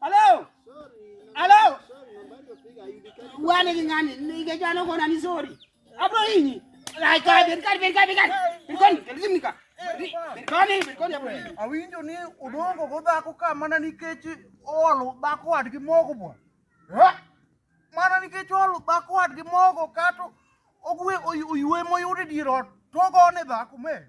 Hello. Hello. Wani lingani, ningejua noko na nizuri. Hapo hii. Like God, God, God, God, God. Birkoni, lazima nika. Birkoni, birkoni hapo. Awinjo ni udongo godha ko ka mana nikech olo bako wadgi mogo bwa. Eh? Mana nikech olo bako wadgi mogo kato ogwe oywe moyude dier ot. Togo ne dhako me.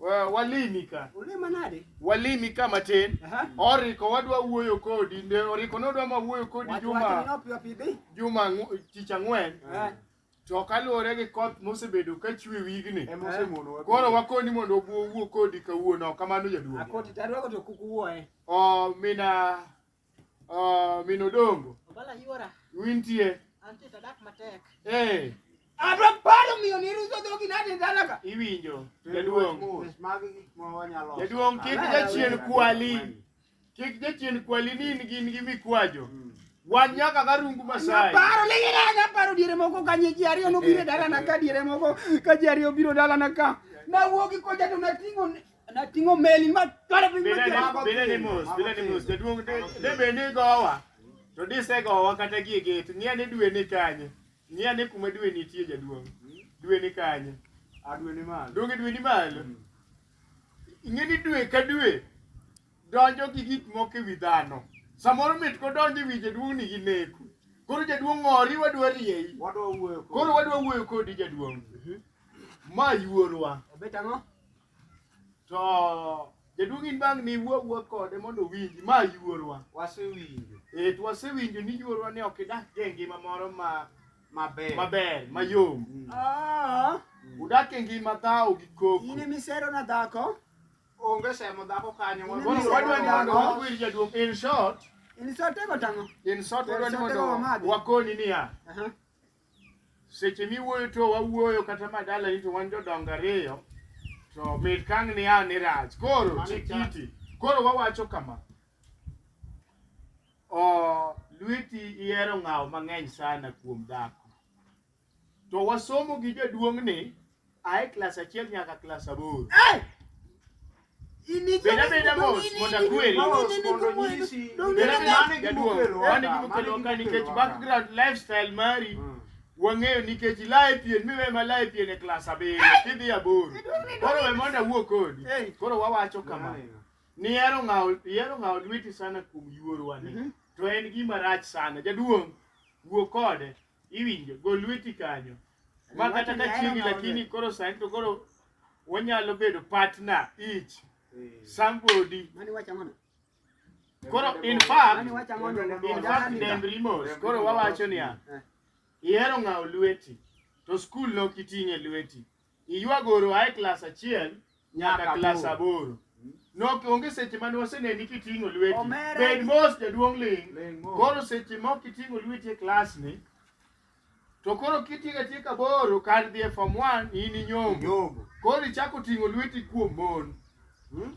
Uh, walimi ka ulima nade walimi ka matin uh -huh. oriko wadwa wuoyo kodi nde oriko ne odwa ma wuoyo kodi Watu juma juma tich ang'wen uh -huh. to kaluwore gi koth mosebedo ka chwe wigni eh, eh. koro wakoni mondo obuo wuo kodi kawuono kamano jaduong' akoti to adwako to kuk wuoye oh, mina Ah, mino dongo. Obala yuora. Wintie. Antie tadak matek. Eh. Adwa paro miyo ni ruso dhogi nade dala ka. Iwinjo. Jaduong. Magi gik ma wanyalo. Jaduong kik jachien kwali. Kik jachien kwali ni in gin gi mikwajo. Hmm. Wan nyaka ka rungu Masai. Paro ni ina nya paro diere moko ka nyi ji ariyo no biro dala na ka diere moko ka ji ariyo biro dala na ka. Na wuogi ko jadu na tingo na tingo meli ma tware piny Bile ni- bile ni mos bile ni mos jaduong' de- de bed ni gowa to disegowa kata gie gate ng'e ni dwe ni kanye ng'e ni kuma dwe nitie jaduong' dwe ni kanye adwe ni malo donge dwe ni malo ing'e ni dwe ka dwe donjo gi gik moko e wi dhano samoro mit kodonjo e wi jaduong' ni gi neku koro jaduong' ng'ori wadwa rieyi wadwa wuoyo kod- koro wadwa wuoyo kodi jaduong' ma yuorwa obet ang'o To jaduong' in bang' ni wuo wuo kode mondo owinji ma yuorwa. Wasewinjo. Eh to wasewinjo ni yuorwa ni ok idak e ngima moro ma maber maber mayom. Mm. Ah. Mm. Udak e ngima dhawo gi koko. In emisero na dhako. Onge semo dhako kanyo. Wadwa ni mondo wakwir jaduong' in short. In short ego tang'o. In short wadwa ni mondo wakoni niya. Uh -huh. seche miwuoyo to wawuoyo kata madala ni to wan jodongo ariyo to mit kang ni a ni rach koro chikiti koro wawacho kama o lweti ihero ng'awo mang'eny sana kuom dhako to wasomo gi jaduong' ni ae klas achiel nyaka klas aboro. Beda beda mos mondo akweri. Beda mane gimokelo mane gimokelo ka nikech background lifestyle mari wang'eyo nikech ilaye pien miwe ma laye pien e klas abiriyo kidhi aboro. Koro we mondo awuo kodi. Koro wawacho kama. Nihero ng'awo ihero ng'awo lweti sana kuom yuorwa ni. To en gima rach sana. Jaduong' wuo kode. Iwinjo, gol lweti kanyo. Ma kata ka chiegi lakini koro sani to koro wanyalo bedo partner each. Eh. Somebody. Mani wacha mana. Koro in fact, in fact dem remorse. Koro wawacho niya. Eh. Ihero ng'awo lweti to skul no kiting'e lweti. Iywagoro ae klas achiel nyaka klas aboro. Nok onge seche mane waseneni kiting'o lweti. Omera. Bed mos jaduong' ling'. Ling' mos. Koro seche mok kiting'o lweti e klas ni to koro kitieko atieka aboro kar dhi e form 1 in inyombo. Nyombo. Koro ichako ting'o lweti kuom mon. Hmm?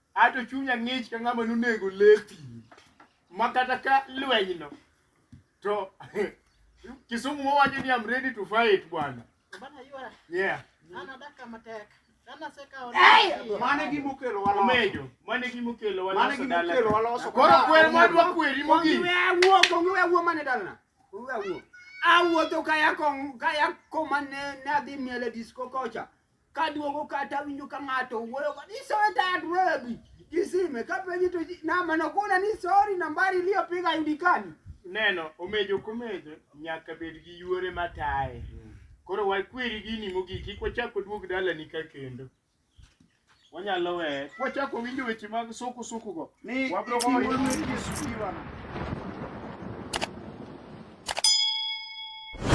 Ato chunya ng'ich ka ng'ama nonego lepi. Ma kata ka lwenyno to Kisumu wawacho ni I'm ready to fight bwana. Bana yuara. Yeah. Ana daka matek. Ana seka ona. Mane gi mukelo walo. Omejo. Mane gi mukelo walo. Mane gi mukelo walo. Koro kwer madwa kweri mogi. Ongiwe awuo, ongiwe awuo mane dalna. Ongiwe awuo. Awuotho kaya kong kaya koma ne nadhi miele disco kocha. Kaduogo kata awinjo ka ng'ato wuoyo kod isoe dad webi kisime kapenji to namba nokona ni sorry nambari iliyopiga hayudikani. Neno omejo komejo nyaka bed gi yuore mataye. Koro wakweri gini mogik kik wachak waduog dalani ka kendo. Wanyalo weye kwachako winjo weche mag suku suku go. Ni Wabro goyo iwuoyo ni Yesu iwana.